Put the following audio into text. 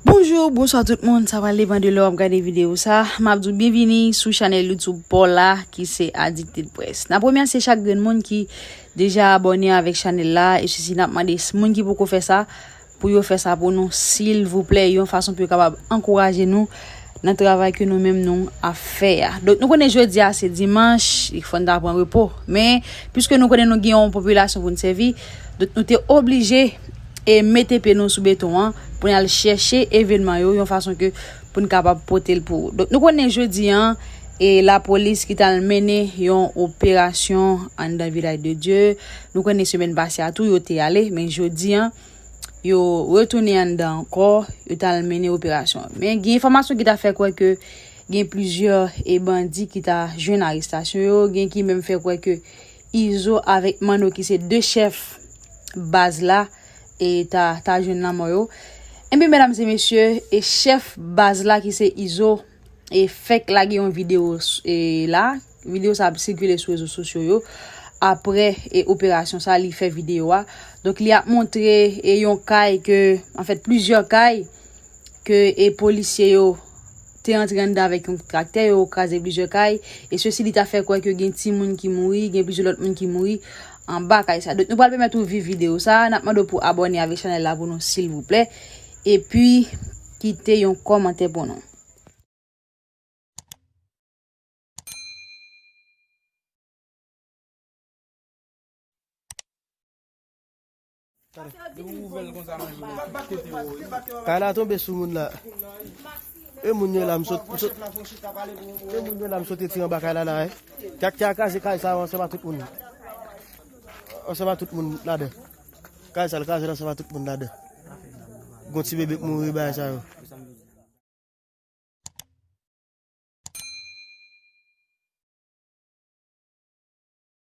Bonjour, bonsoir tout moun, sa pral depan de lè wap gade video sa. Map di w byenvini sou chanèl YouTube paw la ki se Addicted Press. Nap remèsye chak grenn moun ki deja abòne avèk chanèl la e sisi nap mande moun ki poko fè sa pou yo fè sa pou nou silvouplè yon fason pou yo kapab ankouraje nou nan travay ke nou menm nou ap fè a. Donk nou konnen jodi a se dimanch, li fòn ta pran repo men pwiske nou konnen nou gen yon popilasyon pou n sèvi nou te oblije e mete pye nou sou beton an pou n al chèche evènman yo yon fason ke pou n kapab pote l pou ou. Donk nou konnen jodi an, e lapolis ki t al mennen yon operasyon anndan Vilaj de Dye, nou konnen semèn pase a tou yo te ale, men jodi an, yo retounen anndan ankò, yo t al mennen operasyon. Men gen enfòmasyon ki ta fè kwè ke gen plizyè e bandi ki ta jwenn arestasyon yo, gen ki menm fè kwè ke Izo avèk Manno ki se 2 chèf baz la e ta ta jwenn lanmò yo. Ebyen medam se mesye e chèf baz la ki se Izo e fèk lage yon video e la, video sa ap sikile sou rezo sosyo yo aprè e operasyon sa li fè video a. Donk li ap montre e yon kay ke anfèt plizyè kay ke e polisye yo. te antre anndan avèk yon traktè, yo kraze plizyè kay, e sesi li ta fè kwè ke gen timoun ki mouri, gen plizyè lòt moun ki mouri anba kay sa. Donk nou pral pèmèt ou viv video sa, nap mande w pou abòne avèk chanèl la pou nou silvouplè, epi kite yon kòmantè pou nou. Kay la tonbe sou moun la. E moun yo la m sot. E moun yo la m sote ti anba kay la la. Kat ki a kaze kay sa an seman tout moun. An seman tout moun la de. Kay sa l kaze la seman tout moun la de. Gon ti bebe k mouri ba sa yo.